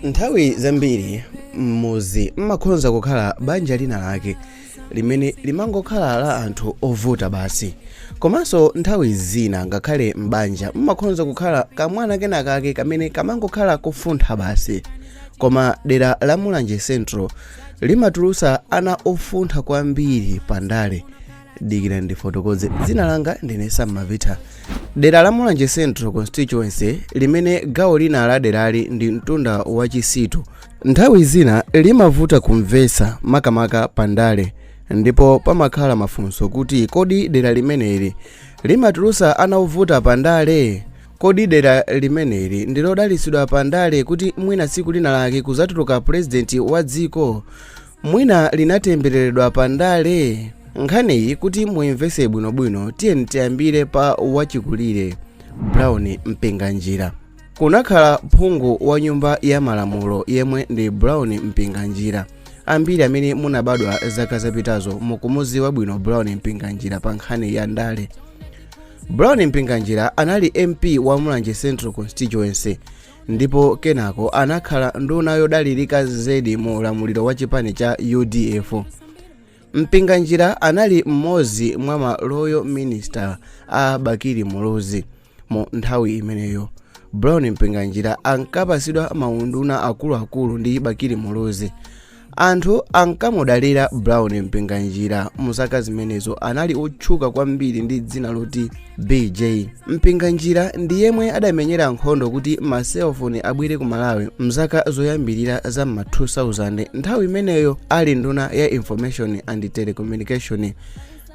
Nthawi zambiri m'mudzi m'makhonza kukhala banja lina lake limene limangokhala la anthu ovuta basi. Komanso nthawi zina ngakhale m'banja m'makhonza kukhala kamwana kena kake kamene kamangokhala kofuntha basi. Koma dera la Mulanje Central limatulutsa ana ofuntha kwambiri pa ndale. dikira ndifotokoze dzina langa ndine sam mavitha dera la mulanje central constituency limene gawo lina la derali ndi mtunda wa chisitu nthawi zina limavuta kumvetsa makamaka pandale ndipo pamakhala mafunso kuti kodi dera limeneli limatulusa ana ovuta pandale kodi dera limeneli ndilodalitsidwa pandale kuti mwina tsiku lina lake kuzatuluka purezidenti wa dziko mwina linatembereredwa pa ndale nkhaniyi kuti muimvese bwinobwino tiyeni tiyambire pa wachikulire brown mpinganjira kunakhala phungu wa nyumba ya malamulo yemwe ndi brown mpinganjira ambiri amene munabadwa zaka zapitazo mukumuziwa bwino brown mpinganjira pa nkhani ya ndale brown mpinganjira anali mp wa mulanje central constituency ndipo kenako anakhala nduna yodalirika zedi mu ulamuliro wa chipani cha udf mpinganjira anali mmodzi mwa ma loyal minister a bakili muluzi mu nthawi imeneyo brown mpinganjira ankapasidwa maunduna akuluakulu ndi bakili muluzi anthu ankamudalira brown mpinganjira mu zaka zimenezo anali otchuka kwambiri ndi dzina loti bj mpinganjira ndi yemwe adamenyera nkhondo kuti maselfoni abwere ku malawi mzaka zoyambirira za ma 2000 nthawi imeneyo ali nduna ya information and telecommunication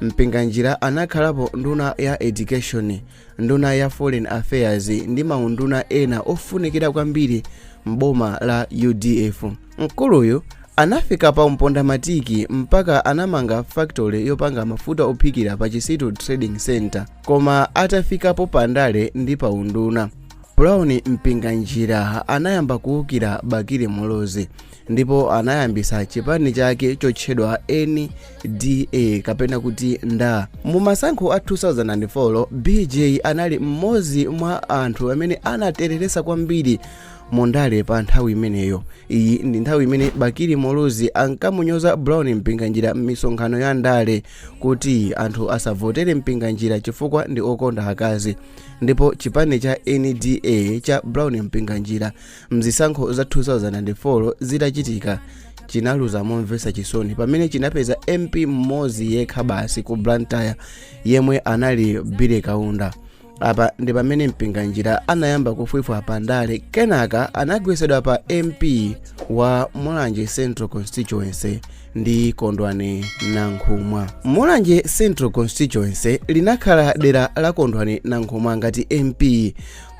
mpinganjira anakhalapo nduna ya education Nduna ya Foreign Affairs ndi maunduna ena ofunikira kwambiri m'boma la udf. Mkuluyu anafika pa mpondamatiki mpaka anamanga factory yopanga mafuta ophikira pa Chisitu Trading Center koma atafikapo pandale ndi pa unduna. Brown Mpinganjira anayamba kuukira Bakili Muluzi ndipo anayambisa chipani chake chotchedwa nda kapena kuti nda mu masankho a 2004 bj anali mmodzi mwa anthu amene anatereresa kwambiri mu ndale pa nthawi imeneyo iyi ndi nthawi imene bakili muluzi ankamunyoza brown mpinganjira m'misonkhano ya ndale kuti anthu asavotere mpinganjira chifukwa ndi okonda akazi ndipo chipani cha nda cha brown mpinganjira mzisankho za 2004 zitachitika chinaluza momvetsa chisoni pamene chinapeza mp mmodzi yekha basi ku blantyre yemwe anali billy kaunda apa ndi pamene mpinganjira anayamba kufwifwa pa ndale kenaka anagwetsedwa pa mp wa mulanje central constituency ndi kondwani nankhumwa mulanje central constituency linakhala dera la kondwani nankhumwa ngati mp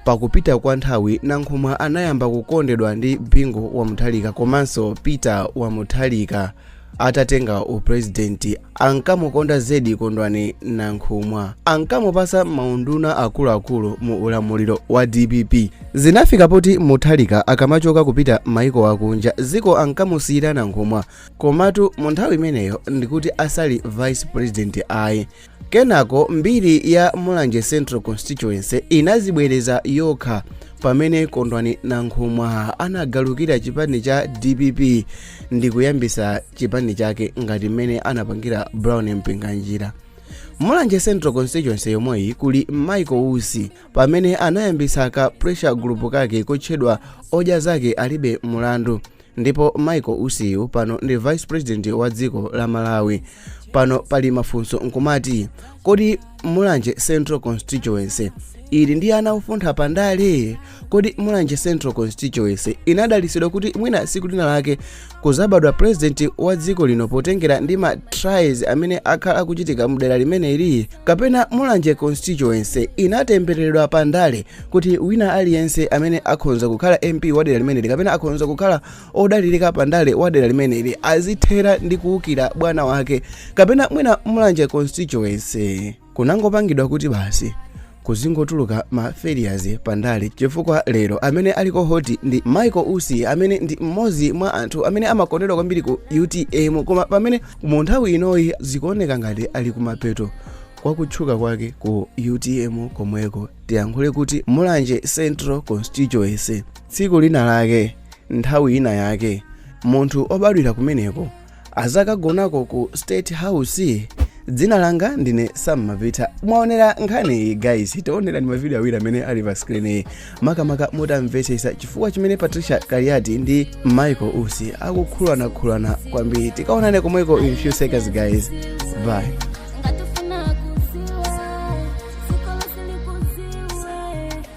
Pakupita kwa nthawi, Nankhumwa anayamba kukondedwa ndi Bingu wa Mutharika komanso Peter wa Mutharika atatenga upulezidenti. Ankamukonda zedi Kondwani Nankhumwa. Ankamupatsa maunduna akuluakulu mu ulamuliro wa dpp. Zinafika poti Mutharika akamachoka kupita maiko akunja, dziko ankamusiyira Nankhumwa. Komatu mu nthawi imeneyo ndikuti asali vice president ayi. Kenako mbiri ya Mulanje Central Constituency inazibwereza yokha pamene Kondwani Nankhumwa anagalukira chipani cha DPP ndi kuyambisa chipani chake ngati mmene anapangira Brown Mpinganjira. Mulanje Central Constituency yomweyi kuli Michael Usi pamene anayambisa ka pressure group kake kotchedwa Odya Zake Alibe Mulandu Ndipo Michael Usi yu pano ndi vice president wa dziko la Malawi. Pano pali mafunso nkumati kodi Mulanje Central Constituency ili ndi ana ofuntha pa ndale? Kodi Mulanje Central Constituency inadalitsidwa kuti mwina siku lina lake kuzabadwa president wa dziko lino potengera ndi ma trials amene akhala akuchitika mdera limeneli? Kapena Mulanje Constituency inatembereredwa pa ndale kuti wina aliyense amene akhonza kukhala mp wa dera limeneli kapena akhonza kukhala odalirika pandale wa dera limeneli azithera ndi kuwukira bwana wake kapena mwina mulanje constituency kunangopangidwa kuti basi kuzingotuluka ma failures pandale chifukwa lero amene aliko hoti ndi michael usi amene ndi mmodzi mwa anthu amene amakondedwa kwambiri ku utm koma pamene mu nthawi inoyi zikuoneka ngati ali kumapeto kwa kutchuka kwake ku utm komweko tiyankhule kuti mulanje central constituency tsiku lina lake nthawi ina yake munthu obadwira kumeneko azakagonako ku state house dzina langa ndine sam mavita mwaonera nkhani iyi guys taonerani mavidiyo awiri amene ali pa screen iyi makamaka mukamvetsetse chifukwa chimene patricia kaliati ndi michael usi akukhuluzanakhuluzana kwambiri tikaonane komweko in few seconds guys bye